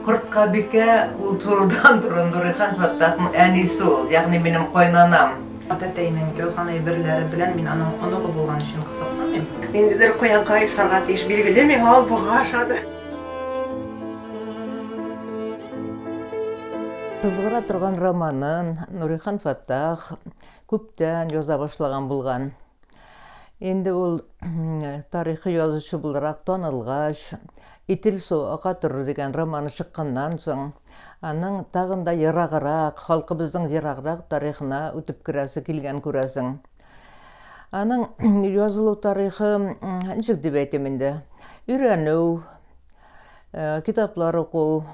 Корткабикә ул турыдан туры Нурихан Фәттахның әнисе ул, ягъни минем кайнанам. Атәтәйнең язган әйберләре белән мин аның оныгы булган өчен кызыксынмыйм. Ниндидер куянга ошарга тиеш, билгеле, миңа ул бага ошады. Кызгыра торган романын Нурихан Фаттах күптән яза башлаган булган. Инде ул тарихи язучы буларак танылгач, Итил су ака торыр дигән романы чыкканнан соң, аның тагын да ераграк, халкыбызның ераграк тарихына үтеп керәсе килгән күрәсең. Аның язылу тарихы ничек дип әйтим инде? Өйрәнү, э, китаплар уку.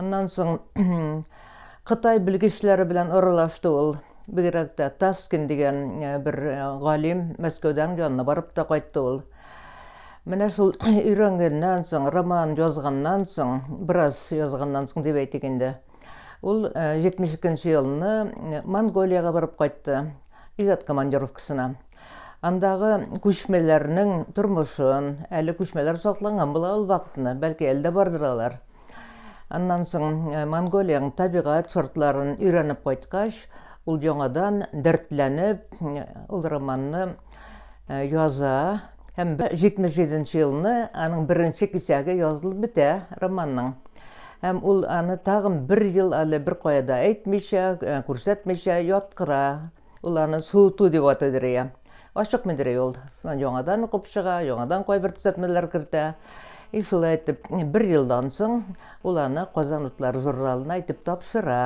Аннан соң Кытай белгечләре белән аралашты ул. Бигрәк тә Таскин дигән э, бер э, галим Мәскәүдән янына барып та кайтты ул. Менә шул өйрәнгәннән соң, роман язганнан соң, бераз язганнан соң дип әйтик инде. Ул 72 нче елны Монголиягә барып кайтты, иҗат командировкасына. Андагы күчмәләрнең тормышын, әле күчмәләр сакланган була ул вакытны, бәлки әле дә бардыр алар. Аннан соң Монголиянең табигать шартларын өйрәнеп кайткач, ул яңадан дәртләнеп, ул романны э, яза һәм 77 нче елны аның беренче кисәге язылып бетә романның һәм ул аны тагын бер ел әле бер кая да әйтмичә э, күрсәтмичә яткыра ул аны суыту дип атыйдыр иә ашык медрей ул яңадан укып чыга яңадан кайбер төзәтмәләр кертә и шулай итеп бер елдан соң ул аны казан утлары журналына әйтеп тапшыра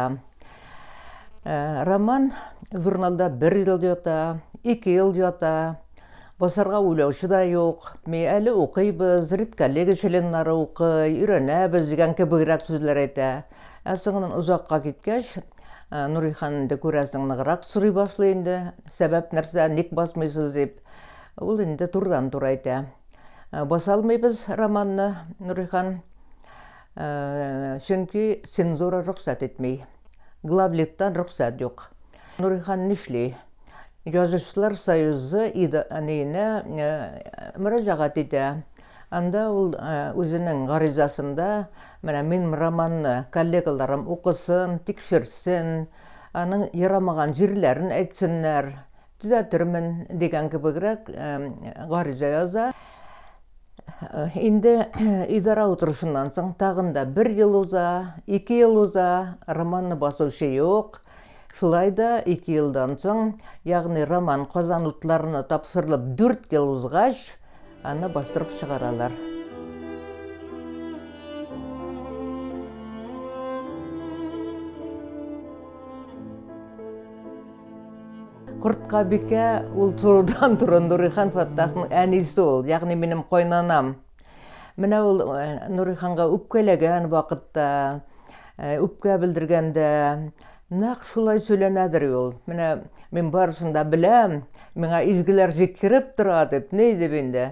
Ә, роман журналда бер ел ята, ике ел ята, басарга уйлаучы да юк. Ми әле укыйбыз, редколлега членнары укый, өйрәнәбез дигән кебегрәк сүзләр әйтә. Ә соңыннан озакка киткәч, ә, Нурихан инде күрәсең ныграк сорый башлый инде, сәбәп нәрсә, ник басмыйсыз дип. Ул инде турыдан-туры әйтә. Ә, Басалмыйбыз романны, Нурихан. Чөнки цензура рөхсәт итми. Главлиттан рөхсәт юк. Нурихан нишли? Язучылар союзы идарәсенә мөрәҗәгать итә. Анда ул үзенең гаризасында, Менә мин романны коллегаларым укысын, тикшертсен, аның ярамаган җирләрен әйтсеннәр, Төзәтермен, дигән кебегрәк гариза яза. Инде идара утырышыннан соң тагын да бер ел уза, ике ел уза, романны басучы юк. Шулай да ике елдан соң, ягъни роман Казан утларына тапшырылып дүрт ел узгач, Аны бастырып чыгаралар. Кортка бикә ул турыдан туры Нурихан Фаттахның әнисе ул, ягъни минем кайнанам. Менә ул э, Нуриханга үпкәләгән вакытта, э, үпкә белдергәндә Нәкъ шулай сөйләнәдер ул. Менә мин барысын да беләм, миңа изгеләр җиткереп тора дип, ни дип инде.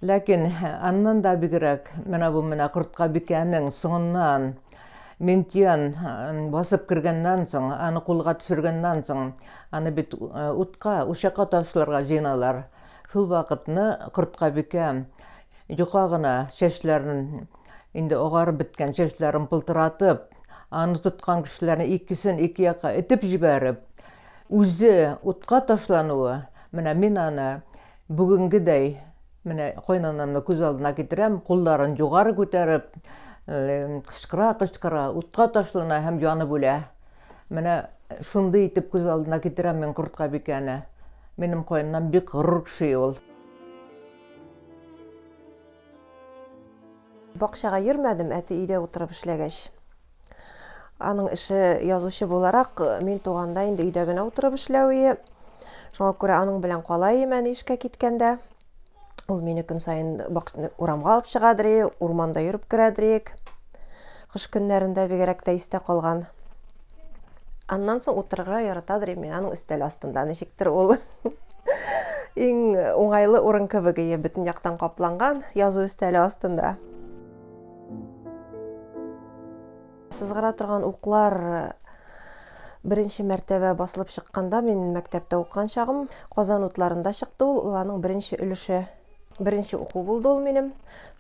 Ләкин аннан да бигрәк, менә бу менә кортка бикәнең соңыннан Минтиян басып кергәннән соң, аны кулга төшергәннән соң, аны бит утка, учакка ташларга җыеналар. Шул вакытны кортка бикә Йока гына чәчләрен, инде агарып беткән чәчләрен пылтыратып, аны тоткан кешеләрнең икесен ике якка этеп җибәреп, үзе утка ташлануы, менә мин аны бүгенгедәй менә кайнанамны күз алдына китерәм, кулларын югары күтәреп, кычкыра-кычкыра утка ташлана һәм янып үлә. Менә шундый итеп күз алдына китерәм мин корткабикәне. Минем кайнанам бик горур кеше ул. Бакчага йөрмәдем, әти өйдә утырып эшләгәч. Аның эше язучы буларак, мин туганда инде өйдә генә утырып эшләве. Шуңа күрә аның белән кала ием әни эшкә киткәндә. Ул мине көн саен урамга алып чыгадыр, урманда йөреп керәдер. Кыш көннәрендә бигрәк тә истә калган. Аннан соң утырырга яратадыр инде мин аның өстәл астында. Ничектер ул иң уңайлы урын кебек ие, бөтен яктан капланган язу өстәле астында. Сызгыра торган уклар Беренче мәртәбә басылып чыкканда мин мәктәптә укыган чагым Казан утларында чыкты ул, ул аның беренче өлеше. Беренче уку булды ул минем.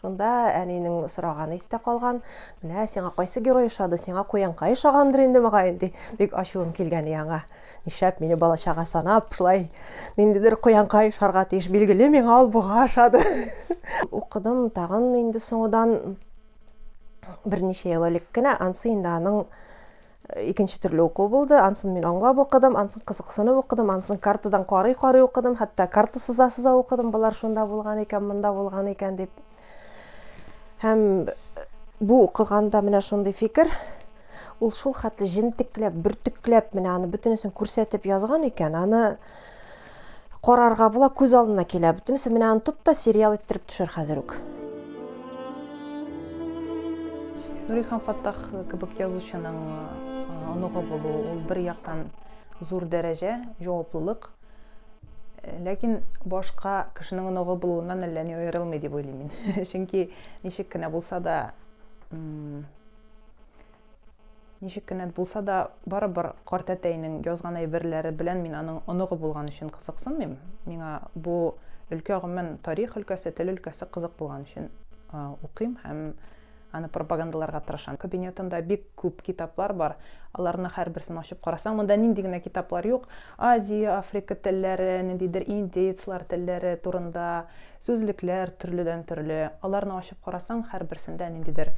Шунда әнинең сораганы истә калган. Менә сиңа кайсы герой ошады? Сиңа куянка ошагандыр инде мөгаен, ди. Бик ачуым килгән яңа. Нишләп мине балачага санап, шулай ниндидер куянка ошарга тиеш. Билгеле, миңа ул буга ошады. Укыдым тагын инде соңыдан берничә ел элек кенә, ансы инде аның икенче төрле уку булды. Ансын мин аңлап укыдым, ансын кызыксынып укыдым, ансын картадан карый-карый укыдым, хәтта карта сыза-сыза укыдым, болар шунда булган икән, монда булган икән дип. Һәм бу укыганда менә шундый фикер, ул шул хәтле җентекләп, бөртекләп менә аны бөтенесен күрсәтеп язган икән, аны Карарга була, күз алдына килә. Бөтенесе менә аны тот та сериал иттереп төшер хәзер үк. Нурихан Фаттах кебек язучының оныгы булу, ул бер яктан зур дәрәҗә, җаваплылык. Ләкин башка кешенең оныгы булуыннан әллә ни аерылмый дип уйлыйм мин. Чөнки ничек кенә булса да Ничек кенә булса да, барыбер картәтәйнең язган әйберләре белән мин аның оныгы булган өчен кызыксынмыйм. Миңа бу өлкә гомумән тарих өлкәсе, тел өлкәсе кызык булган өчен укыйм һәм аны пропагандаларга тырышам. Кабинетында бик күп китаплар бар. Аларны һәрберсен ачып карасаң, монда нинди генә китаплар юк. Азия, Африка телләре, ниндидер индеецлар телләре турында, Сүзлекләр төрледән-төрле. Аларны ачып карасаң, һәрберсендә ниндидер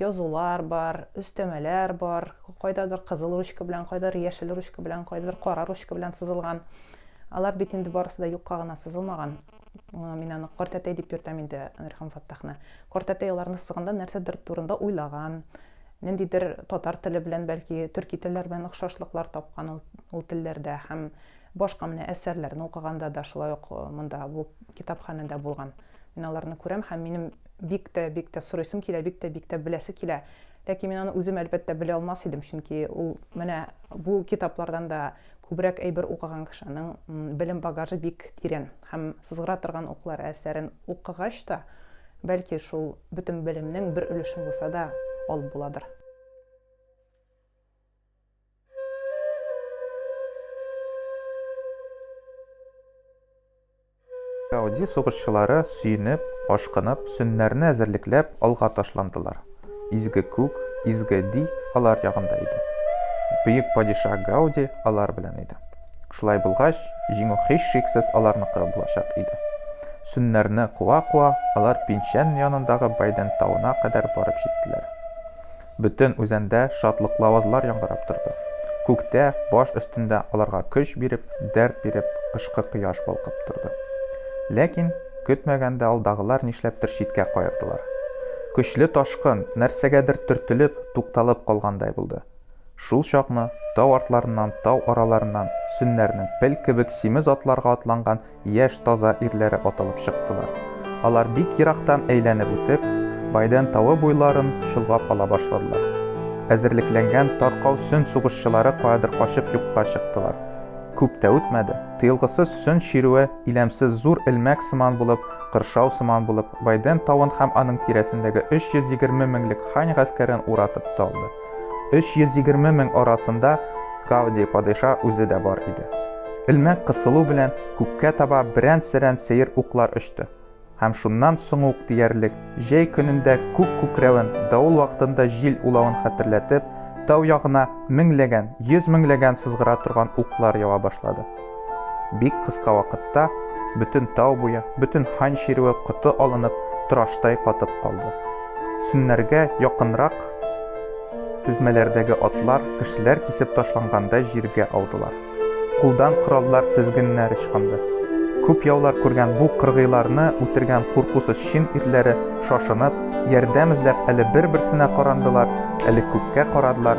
язулар бар, өстәмәләр бар. Кайдадыр кызыл ручка белән, кайдадыр яшел ручка белән, кайдадыр кара ручка белән сызылган. Алар бит инде барысы да юкка гына сызылмаган. Мин аны картәтәй дип йөртәм инде Нурхан Фаттахны. Картәтәй аларны сызганда нәрсәдер турында уйлаган, ниндидер татар теле белән, бәлки, төрки телләр белән охшашлыклар тапкан ул телләрдә һәм Башка менә әсәрләрне укыганда да шулай ук монда бу китапханәдә булган. Мин аларны күрәм һәм минем бик тә, бик тә сорыйсым килә, бик тә, бик тә беләсе килә. Ләкин мин аны үзем, әлбәттә, белә алмас идем, чөнки ул менә бу китаплардан да күбрәк әйбер укыган кешенең белем багажы бик тирән һәм Сызгыра торган уклар әсәрен укыгач та, бәлки, шул бөтен белемнең бер өлешен булса да алып буладыр. Гауди сугышчылары сөенеп, ашкынып, сөннәрне әзерлекләп алга ташландылар. Изге күк, изге ди алар ягында иде. Бөек падиша Гауди алар белән иде. Шулай булгач, җиңү һичшиксез аларныкы булачак иде. Сөннәрне куа-куа, алар Пинчән янындагы Байден тавына кадәр барып җиттеләр. Бөтен үзәндә шатлыклы авазлар яңгырап торды. Күктә, баш өстендә аларга көч биреп, дәрт биреп, кышкы кояш балкып торды. Ләкин, көтмәгәндә алдагылар нишләптер читкә каердылар. Көчле ташкын, нәрсәгәдер төртелеп, тукталып калгандай булды. Шул чакны, тау артларыннан, тау араларыннан, сөннәрнең пел кебек симез атларга атланган яшь таза ирләре атылып чыктылар. Алар бик ерактан әйләнеп үтеп, Байден тавы буйларын чолгап ала башладылар. Әзерлекләнгән таркау сөн сугышчылары каядыр качып юкка чыктылар. Күп тә үтмәде, тыелгысыз сөн чирүе иләмсез зур элмәк сыман булып, кыршау сыман булып, Байден тавын һәм аның тирәсендәге 320 меңлек Хань гаскәрен уратып та алды. 320 мең арасында Гауди падиша үзе дә бар иде. Элмәк кысылу белән күккә таба берән-серән сәер уклар очты. Һәм шуннан соң ук диярлек, җәй көнендә күк күкрәвен, давыл вакытында җил улавын хәтерләтеп, тау ягына меңләгән, йөз меңләгән сызгыра торган уклар ява башлады. Бик кыска вакытта бөтен тау буе, бөтен хан чирүе коты алынып, тораштай катып калды. Сөннәргә якынрак тезмәләрдәге атлар, кешеләр кисеп ташлангандай җиргә аудылар. Кулдан кораллар тезгененә рычкынды. Күп яулар күргән бу кыргыйларны үтергән куркусыз чин ирләре, шашынып, ярдәм эзләп әле бер-берсенә карандылар, әле күккә карадылар,